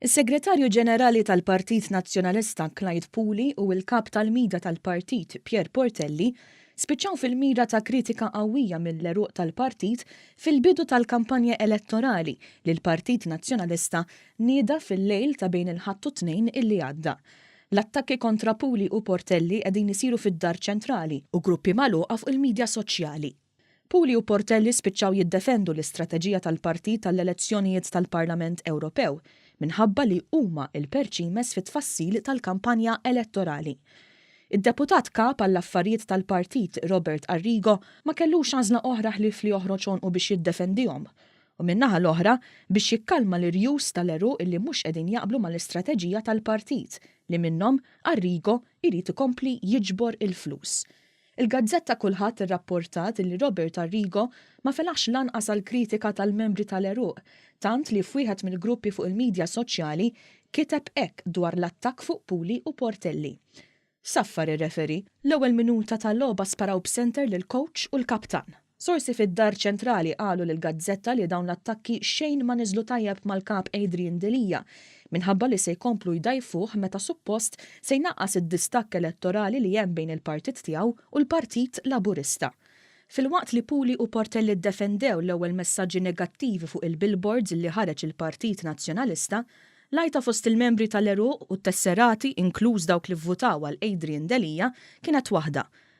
Is-Segretarju Ġenerali tal-Partit Nazzjonalista Clyde Puli u l-Kap tal-Mida tal-Partit Pierre Portelli spiċċaw fil-mira ta' kritika qawwija mill-għeruq tal-Partit fil-bidu tal-kampanja elettorali li l-Partit Nazzjonalista nieda fil-lejl ta' bejn il-Ħadd u t-Tnejn illi għadda. L-attakki kontra Puli u Portelli qegħdin isiru fid-Dar Ċentrali u gruppi magħluqa fuq il-midja soċjali. Puli u Portelli spiċċaw jiddefendu l-istrateġija tal-partit għall-elezzjonijiet tal-Parlament Ewropew minħabba li huma l-perċimes fit-tfassil tal-kampanja elettorali. Id-Deputat Kap għall-Affarijiet tal-Partit Robert Arrigo ma kellux għażla oħra ħlief li joħroġ għonqu biex jiddefendihom u min-naħa l-oħra biex jikkalma l-irjus tal-għeruq li mhux qegħdin jaqblu mal-istrateġija tal-partit li minnhom Arrigo jrid ikompli jiġbor il-flus. Il-gazzetta Kulħadd irrapportat illi Robert Arrigo ma felaħx lanqas għall-kritika tal-membri tal-għeruq, tant li f'wieħed mill-gruppi fuq il-midja soċjali kiteb hekk dwar l-attakk fuq Puli u Portelli. Saffar ir-referee. L-ewwel minuta ta' logħba sparaw b'senter lill-kowċ u l-kaptan. Sorsi fid-Dar Ċentrali qalu lill-gazzetta li dawn l-attakki xejn ma niżlu tajjeb mal-Kap Adrian Delia minħabba li se jkomplu jdgħajfuh meta suppost se jnaqqas id-distakk elettorali li hemm bejn il-partit tiegħu u l-Partit Laburista. Filwaqt li Puli u Portelli ddefendew l-ewwel messaġġi negattivi fuq il-billboards li ħareġ il-Partit Nazzjonalista, l-għajta fost il-membri tal-għeruq u t-tesserati, inkluż dawk li vvutaw għal Adrian Delia, kienet waħda,